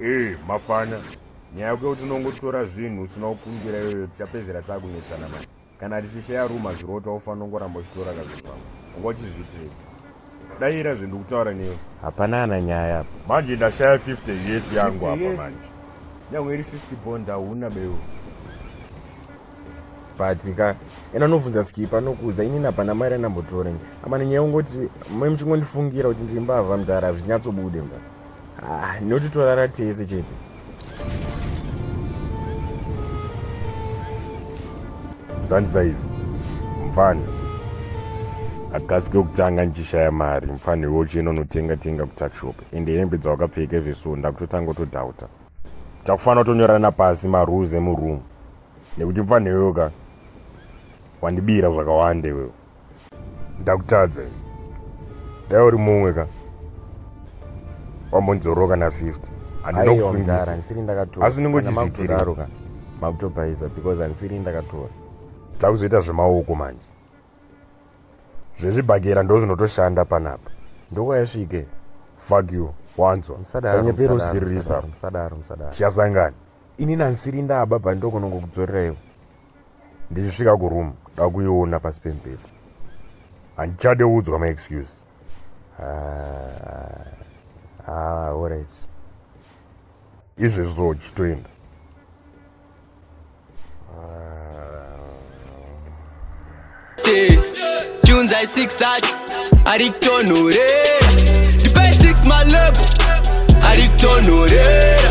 ee mafana nyaya yokuti unongotora zvinhu usina kukumbira iyoyo tichapedzera takunetsana mani kana tichishaya ruma zvirota ufanira kungoramba uchitora kazvinhu vangu unga uchizviitei Daira zve ndikutaura newe. Hapana ana nyaya apa. Manje ndashaya 50 years yangu apa manje. Nyangwe iri 50 bond hauna beyo. But ka ena unofunza skipa nokudza ini napana mari anambotora. Amana nyaya ungoti mai muchingondifungira kuti ndiri mbavha mdara zvinyatsobude mdara. Ah, inoti torara tese chete. Zvanzi saizi mfana agasi kwekutanga ndichishaya mari mfana iwe uchiyenda unotenga tenga kutakshop ende hembe dzawakapfeka izveso ndakutotanga utodhauta takufanira kutonyorana pasi marules emuroom nekuti mfana iweyoka wandibira zvakawanda iwewe ndakutadza dai uri mumwe ka wambonzoroka na 50 andinokusungisa ndisiri ndakatora asi unenge uchizvitiraroka makutobhaiza because andisiri ndakatora takuzoita zvemaoko manje zvezvibhakera ndo zvinotoshanda panapa ndokwayasvike fuck you wanzwa sanyepera usiririsa chiyasangana ini nansiri ndaba bhandokonongokudzorera ivo ndichisvika kuroom ndakuiona pasi pemberi handichade udzwa maexcuse ah, ah, orit izvezvo chitoenda tunza isix acho ari kutonhorera ndipe six malebo ari kutonhorera